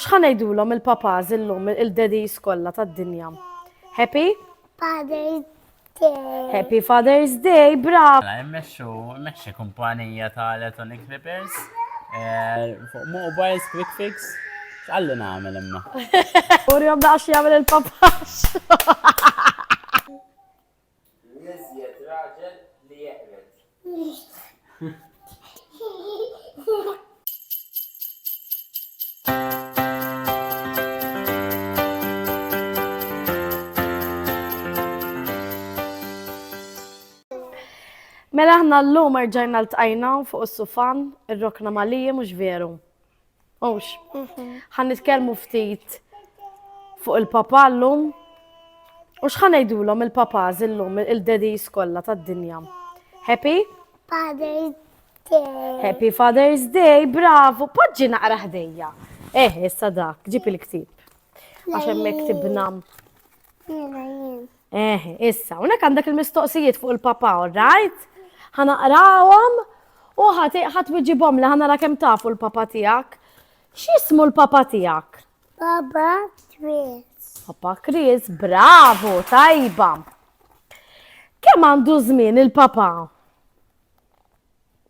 X'ħa ngħidulhom il-papas illum il-daddies kollha tad-dinja? Happy? Father's Day. Happy Father's Day, bravo! Mela, immexxu, immexxi kumpanija ta' electronic papers. Eh, fuq mobiles, quick fix. X'qalli nagħmel imma? Urjom daqs jagħmel il-papas. L-iżjed raġel li jeqred. Mela aħna llum erġajna ltqajna fuq is-sufan, irrokna maliji mhux veru? Ux. Ħan nitkellmu ftit fuq il-papa l-lum. U xħan ngħidulhom il-papaz illum il-daddies kollha tad-dinja. Happy? Father's Day. Happy Father's Day, bravo. Poġġi naqra ħdejja. Eh, issa dak, ġib il-ktib. Għax hemmhekk tibna. Jiena jien. Eh, issa, unek għandek il-mistoqsijiet fuq il-papa, right? ħanaqrawhom u ħat wieġibhom li ħanara kemm tafu l-papa tiegħek. X'ismu l-papa tiegħek? Papa Chris. Papa Chris, bravo, tajba. Kemm għandu żmien il-papa?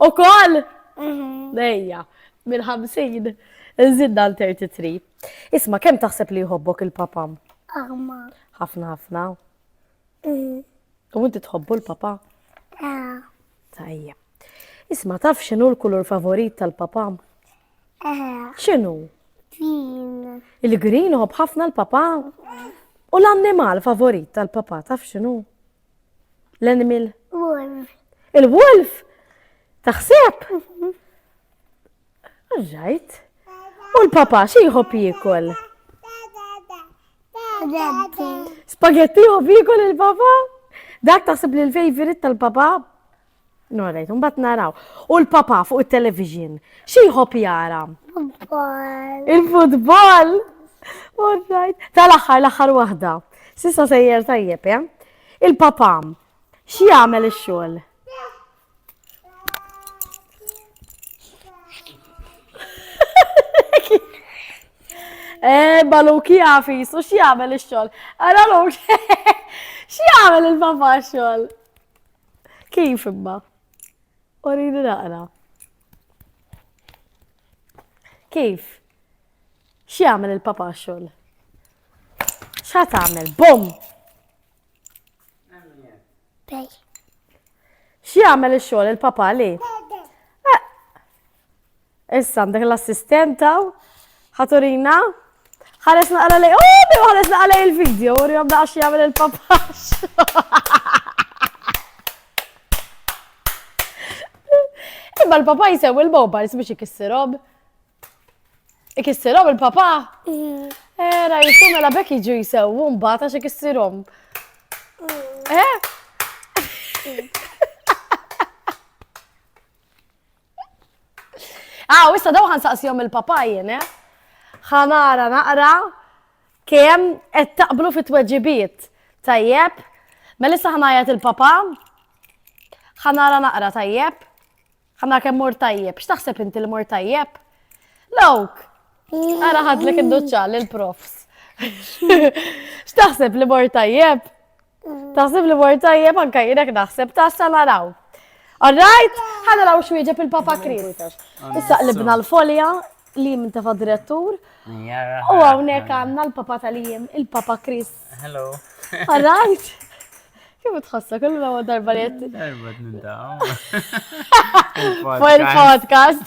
U koll? Dejja, mhm. minn 50 nżidna l-33. Isma, kem taħseb li jħobbok il-papam? Għamma. ħafna ħafna. Mhm. U inti tħobbu l-papa? Ah. Tajja. Isma, taf xinu l-kulur favorit tal-papam? Ah. Xinu? Green. Il-green uħob ħafna l-papa? U l-annimal favorit tal-papa, taf xinu? L-animal? Wolf. Il-wolf? Taħseb? Mhm. Alright. U l-papa xi jħobb jiekol? Spaghetti jħobb jiekol il-papa? Dak taħseb li l-favorite tal-papa? No, rejt, mbagħad naraw. U l-papa fuq it-television, xi jħobb jara? Futbol. Il-futbol! All right. Tal-aħħar, l-aħħar waħda. Sissa sejjer tajjeb, eh? Il-papa, xi jagħmel ix-xogħol? Eh, baluki għafis, u xie għamel il-xol? Għara l-ok, xie għamel il-papa xol? Kif imma? Orini naqra. Kif? X'jagħmel il-papa xogħol? X'ha tagħmel? Bom! X'jagħmel ix-xogħol il-papa li? Issa għandek l-assistenta, ħaturina, ħares naqra lej, oh, bim ħares naqra lej il-video, u rjom daqx jgħamil il-papax. Imma l-papa jisew il-mobars biex ikissirhom. Ikissirhom il-papa? Mm. Era, eh, jisu mela bekk jiġu jisew, un bata xe ikissirhom. Mm. Eh? Mm. Ah, u issa daw ħan saqsijom il-papajjen, eh? ħanara naqra kem qed taqblu fit tweġibiet Tajjeb, mela issa ħanajat il-papa, ħanara naqra tajjeb, ħanara kem mur tajjeb, x'taħseb inti li mur tajjeb? Lawk, għara ħadlek id-duċċa l-profs. X'taħseb li mur tajjeb? Taħseb li mor tajjeb anka jirek naħseb tassa naraw. Alright, ħana raw xwieġeb il-Papa Kris. Issa qlibna l-folja li minn tafa direttur. U għawnek għanna l-Papa tal-jiem, il-Papa Kris. Hello. Alright. Kif tħossa, kull ma darba li jett. Darba t-nindaw. Fuq il-podcast.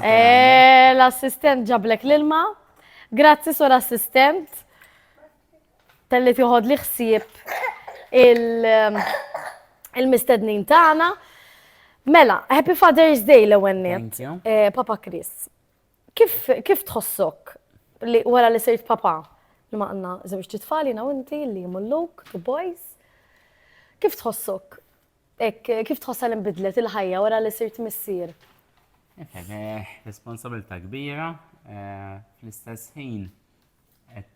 Eh, l-assistent ġablek l-ilma. Grazzi sur assistent. Telli tiħod li ħsieb um, il-mistednin il tagħna. Mela, Happy Father's Day l-ewwel net. Eh, papa Chris. Kif kif tħossok li wara li sirt papa li ma għandna żewġ titfali na inti li mulluk, two boys. Kif tħossok? Hekk kif tħossha li nbidlet il-ħajja wara li sirt missier? Responsabilità kbira, fl-istess ħin qed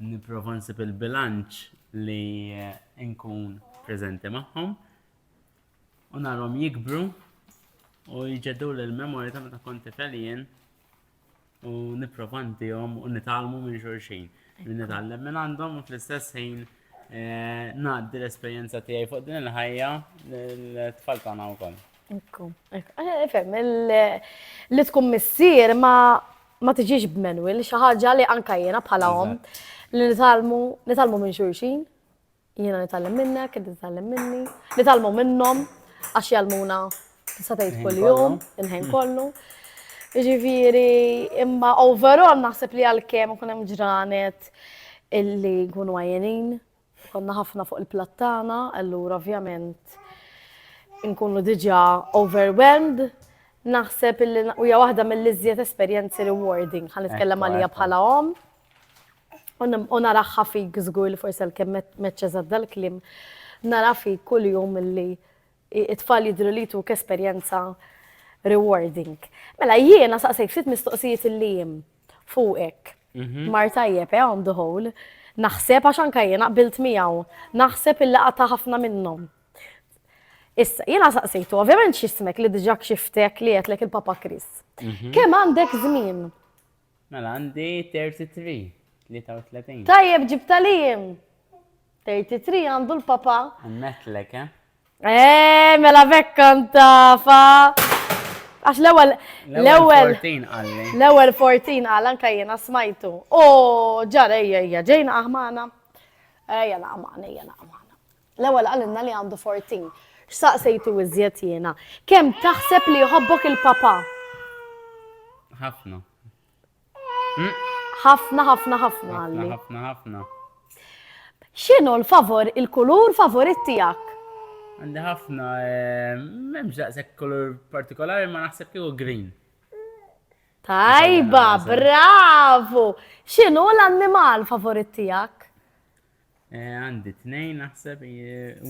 nipprova nsib il-bilanċ li nkun preżenti magħhom u narhom jikbru u jġeddu l-memorja ta' meta kont tifel jien u nipprova ntihom u nitgħallmu minn xulxin. Min nitgħallem minn għandhom u fl-istess ħin eh, ngħaddi l-esperjenza tiegħi fuq din il-ħajja l-tfal tagħna wkoll. Ekku, Fem, li tkun missier ma ma tiġix b'menwil, xi ħaġa li anka jiena bħala om li nitalmu nitalmu minn xulxin. Jiena nitgħallem minnek, inti titgħallem minni. Nitgħallmu minnhom għax jgħallmuna tista' tgħid kuljum, il-ħin kollu. Ġifieri, imma overall naħseb li għalkemm ikun hemm ġranet illi nkunu għajjenin, konna ħafna fuq il-plattana, allura ovvjament nkunu diġà overwhelmed, naħseb illi hija waħda mill-iżjed esperjenzi rewarding, ħa nitkellem għalija bħala omm. U nara fik żgur li forsi għalkemm meċċ eżatt dal-kliem, nara fik kuljum li it-tfal jidhru li jtuk esperjenza rewarding. Mela jiena saqsejk ftit mistoqsijiet li jien fuqek. Mhm. Mar tajjeb, eh, on the whole. Naħseb għax anka jiena qbilt miegħu. Naħseb illi qatta ħafna minnhom. Issa, jiena saqsejtu, ovvjament x'ismek li diġà kxiftek li għedlek il-Papa Chris. Mhm. Kemm għandek żmien Mela għandi 33, 33. Tajjeb ġibta li jim! 33 għandu l-papa. Ammetlek, eh? Eh, mela bekkan tafa. Għax l-ewel, l-ewel, l-ewel 14 għal anka jena smajtu. O, ġara, ejja, ejja, ġejna aħmana. Ejja, naqmana, ejja, naqmana. L-ewwel qalilna li għandu 14. X'saqsejtu iżjed jiena? Kemm taħseb li jħobbok il-papà? Ħafna. Ħafna, ħafna, ħafna għalli. Ħafna, ħafna. X'inhu l-favor, il-kulur favorit tiegħek? Għandi ħafna, eh, m'hemmx daqshekk kulur partikolari ma naħseb kieku green. Tajba, bravo! X'inhu l-annimal favorit tiegħek? Eh, għandi e, tnejn naħseb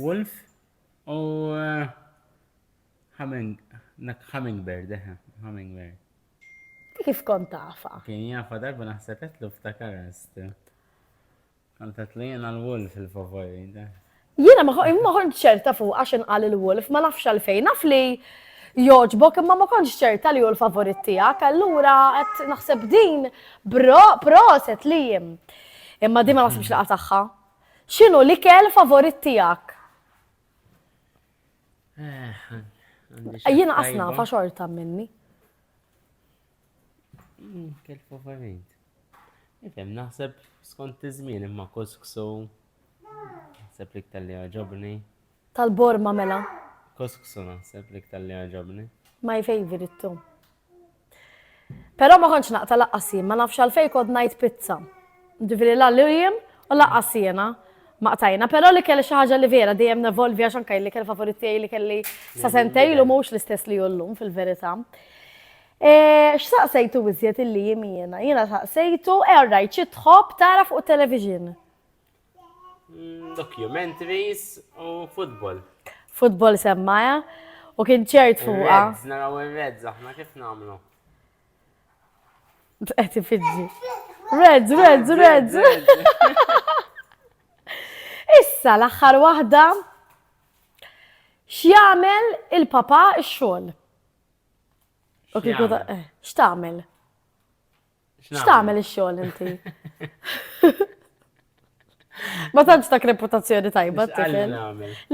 Wolf u eh, Hummingbird, eh, Hummingbird. Kif kont tafa? Kien jafa darba naħseb etlu ftakarest. Għantet li jena l-wolf il-favori. Jena maħon ċerta fuq għax inqal il-wolf, ma nafx għalfejn, naf li joġbok imma ma konx ċerta li hu l-favorit tiegħek, allura qed naħseb din proset li jim. Pro, Imma din ma naħsibx laqa tagħha. X'inhu l-ikel favorit tiegħek? Eh, Jiena qasna fa xorta minni. Mm, kel favorit. Ifhem naħseb skont iż-żmien imma kuskusu. Naħseb li tal-li għaġobni. Tal-borma mela. Kuskusu naħseb l-iktar li għaġabni. My favorite it-tu. Però ma kontx naqta laqqas jien, ma nafx għalfejn kont ngħid pizza. Ġifieri la Lillian u laqqas jiena ma qtajna, però li kelli xi ħaġa li vera dejjem nevolvi għax anke li kelli favorit tiegħi li kelli sa sentej lu mhux l-istess li jullum fil-verità. E, x'saqsejtu iżjed illi jimiena? Jiena saqsejtu, e rajt xi tħobb tara fuq television. Mm, documentaries u football. Football semmaja u kien ċert fuqa. Reds, naraw il-reds, aħna kif namlu? Għeti fidġi. Reds, reds, reds. Issa l-axħar wahda x'jagħmel il-papa x-xogħol. Eh, x'tagħmel? X'tagħmel ix-xogħol inti? Ma tantx dak reputazzjoni tajba tifel.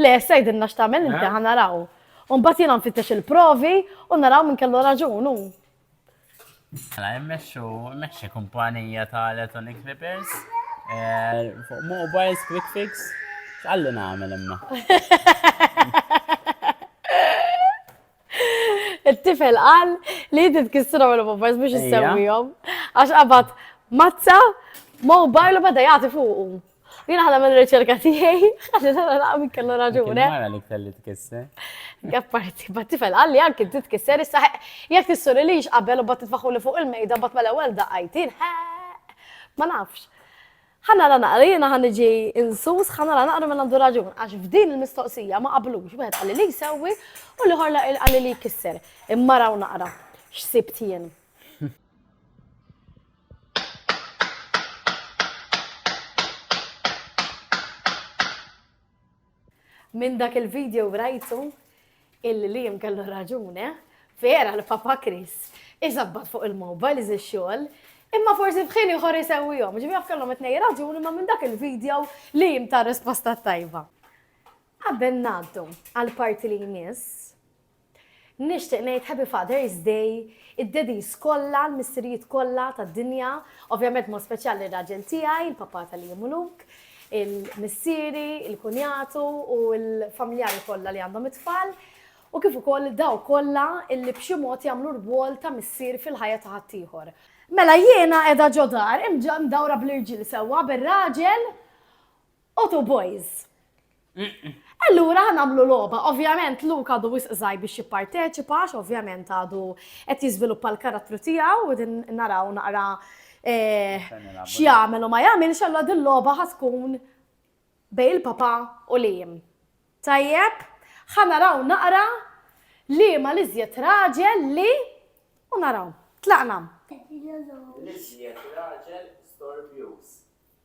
Le, sejdinna x'tagħmel inti ħa naraw. U mbagħad jiena nfittex il-provi u naraw minn kellu raġun hu. Mela immexxu immexxi kumpanija ta' electronic repairs eh, fuq mobiles quick fix. X'qalli nagħmel imma? Il-tifel qal li jinti tkissru l poppers biex jissewwihom. Għax qabad mazza, mobile u bada jagħti fuqu. Jina ħana minn riċerka tiegħi, ħana ħana naqmi kellu raġuni. Mara li kelli tkisser. Għapparti, bat tifel għalli għank inti tkisser, issa jek tissuri li qabel u bat titfaħu li fuq il-mejda bat mal-ewwel daqajtin, ma nafx. Ħa nara naqra, jiena ħa niġi insus, ħa nara naqra min għandu raġun, għax f'din il-mistoqsija ma qablux, wieħed qali li jsewwi u l-ieħor qali li jkisser. Imma raw naqra x'sibt jien. Minn dak il video rajtu illi Liam kellu raġun eh. Vera li Papa Chris iżabbat fuq il-mobile iżi xogħol Imma forsi f'ħin ieħor isewwihom. Ġifi jaf kellhom it-nej raġuni ma minn dak il-video li jim ta' risposta tajba. Qabel ngħaddu għal parti li jmiss, Nixtieq ngħid Happy Father's Day, id-daddies kollha, l-missirijiet kollha tad-dinja, ovvjament b'mod speċjal lir-raġel tiegħi, il-papà tal-Jiem u Luke, il-missieri, il-kunjatu u l-familjari kollha li għandhom it-tfal, u kif ukoll dawk kollha li b'xi mod jagħmlu rwol ta' missier fil-ħajja ta' ħaddieħor. Mela jiena qiegħda ġo dar, imġ-mdawra bl-irġiel sewwa, bir-raġel Otu boys! Allura nagħmlu logħba. Ovvjament Luka għadu wisq żgħir biex jipparteċipa, għax ovvjament għadu qed jiżviluppa l-karattru tiegħu u din naraw naqra eh, x'jagħmel u ma jagħmilx allura din logħba ħa tkun bej il-papa u lijim. Tajjeb, ħa naraw naqra li ma l-iżjed raġel li u naraw. Tlaqna. L-iżjed raġel storbjuż.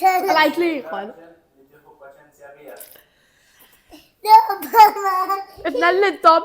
Għalajt li jħol. Ibna l-lintom.